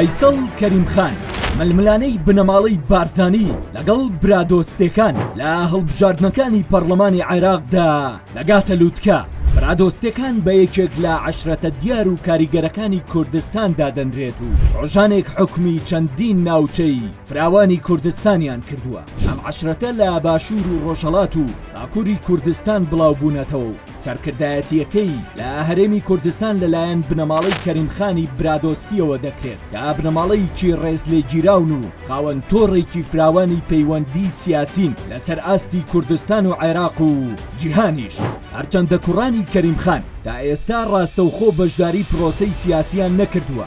فەیسەڵ کەریم خان ململانێی بنەماڵەی بارزانی لەگەڵ برادۆستەکان لە هەڵبژاردنەکانی پەرلەمانی عێراقدا دەگاتە لووتکە برادۆستەکان بە یەکێک لە عشرەتە دیار و کاریگەرەکانی کوردستان دادەنرێت و ڕۆژانێک حکومی چەندین ناوچەی فراوانی کوردستانیان کردووە، ئەم عەشرەتە لە باشوور و ڕۆژهەڵات و باکووری کوردستان بڵاو بوونەتەوە و سەرکردایەتییەکەی لە هەرێمی کوردستان لەلایەن بنەماڵەی کەریم خانی برادۆستییەوە دەکرێت کە بنەماڵەیەکی ڕێزلێگیراون و خاوەن تۆڕێکی فراوانی پەیوەندی سیاسین لەسەر ئاستی کوردستان و عێراق و جیهانیش. هەرچەندە کوڕانی کەریم خان تا ئێستا ڕاستەوخۆ بەشداری پرۆسەی سیاسییان نەکردووە،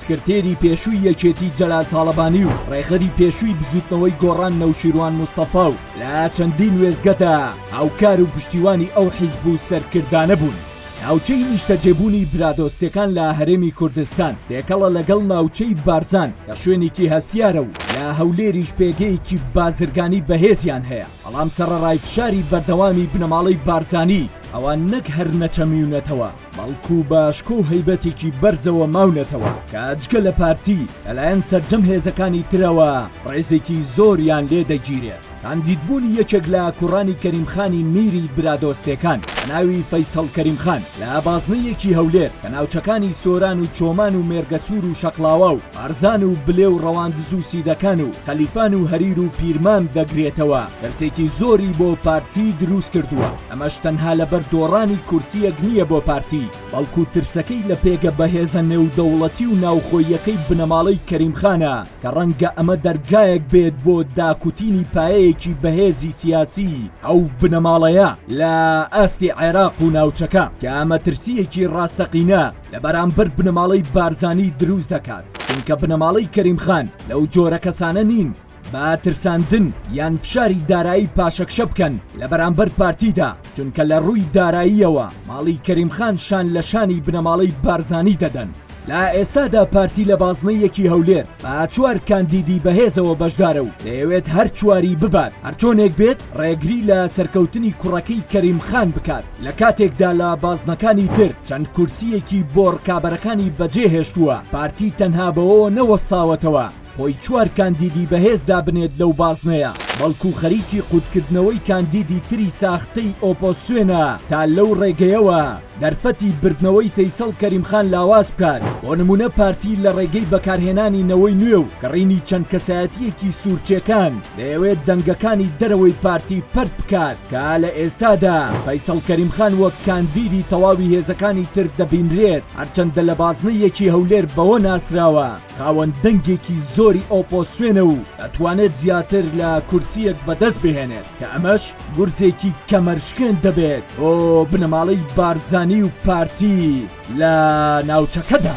سکرتێری پێشووی یەکێتی جەلال تاڵەبانی و ڕێخەری پێشووی بزوتنەوەی گۆڕان نەوشیروان مستەفا و لە چەندین وێزگەدا هاوکار و پشتیوانی ئەو حیزب و سەرکردانە بوون. ناوچەی نیشتەجێبوونی برادۆستەکان لە هەرێمی کوردستان تێکەڵە لەگەڵ ناوچەی بارزان کە شوێنێکی هەستیارە و لە هەولێریش پێگەیەکی بازرگانی بەهێزیان هەیە بەڵام سەرەڕای فشاری بەردەوامی بنەماڵەی بارزانی ئەوان نەک هەر نەچەمیونەتەوە بەڵکو بە شکۆ و هەیبەتێکی بەرزەوە ماونەتەوە کە جگە لە پارتی لەلایەن سەرجەم هێزەکانی ترەوە ڕێزێکی زۆریان لێ دەگیرێت کاندیدبوونی یەکێک لە کوڕانی کەریمخانی میری برادۆستەکان بە ناوی فەیسەڵ کەریمخان لە بازنەیەکی هەولێر کە ناوچەکانی سۆران و چۆمان و مێرگەسوور و شەقلاوا و ئارزان و بلێ و ڕەواندز و سیدەکان و خەلیفان و هەریر و پیرمان دەگرێتەوە دەرسێکی زۆری بۆ پارتی دروست کردووە. ئەمەش تەنها لەبەر دۆڕانی کورسییەک نییە بۆ پارتی، بەڵکو ترسەکەی لە پێگە بەهێزە نێودەوڵەتی و ناوخۆییەکەی بنەماڵەی کەریم خانە کە ڕەنگە ئەمە دەرگایەک بێت بۆ داکوتینی پایەیەکی بەهێزی سیاسی ئەو بنەماڵەیە لە ئاستی عێراق و ناوچەکە کە ئەمە ترسییەکی ڕاستەقینە لە بەرامبەر بنەماڵەی بارزانی دروست دەکات چونکە بنەماڵەی کەریم خان لەو جۆرە کەسانە نین با ترساندن یان فشاری دارایی پاشەکشە بکەن لە بەرامبەر پارتیدا چونکە لە ڕووی داراییەوە ماڵی کەریمخان شان لە شانی بنەماڵەی بارزانی دەدەن لە ئێستادا پارتی لە بازنەیەکی هەولێر با چوار کاندیدی بەهێزەوە بەشدارە و دەیەوێت هەر چواری ببات هەرچۆنێک بێت ڕێگری لە سەرکەوتنی کوڕەکەی کەریم خان بکات لە کاتێکدا لە بازنەکانی تر چەند کورسیەکی بۆڕکابەرەکانی بەجێهێشتووە پارتی تەنها بەوەوە نەوەستاوەتەوە خۆی چوار کاندیدی بەهێز دابنێت لەو بازنەیە، بەڵکو خەریکی قوتکردنەوەی کاندیدی تری ساختەی ئۆپۆسیۆنە تا لەو ڕێگەیەوە دەرفەتی بردنەوەی فەیسەڵ کەریم خان لاواز بکات، بۆ نمونە پارتی لە ڕێگەی بەکارهێنانی نەوەی نوێ و کڕینی چەند کەسایەتیەکی سورچێکان دەیەوێت دەنگەکانی دەرەوەی پارتی پەرت بکات کە لە ئێستادا فەیسەڵ کەریم خان وەک کاندیدی تەواوی هێزەکانی تر دەبینرێت هەرچەندە لە بازنەیەکی هەولێر بەوە ناسراوە خاوەن دەنگێکی زۆری ئۆپۆسیۆنە و ئەتوانێت زیاتر لە کورسییەک بەدەست بهێنێت کە ئەمەش گورزێکی کەمەرشکێن دەبێت بۆ بنەماڵەی بارزانی و پارتی لە ناوچەکەدا.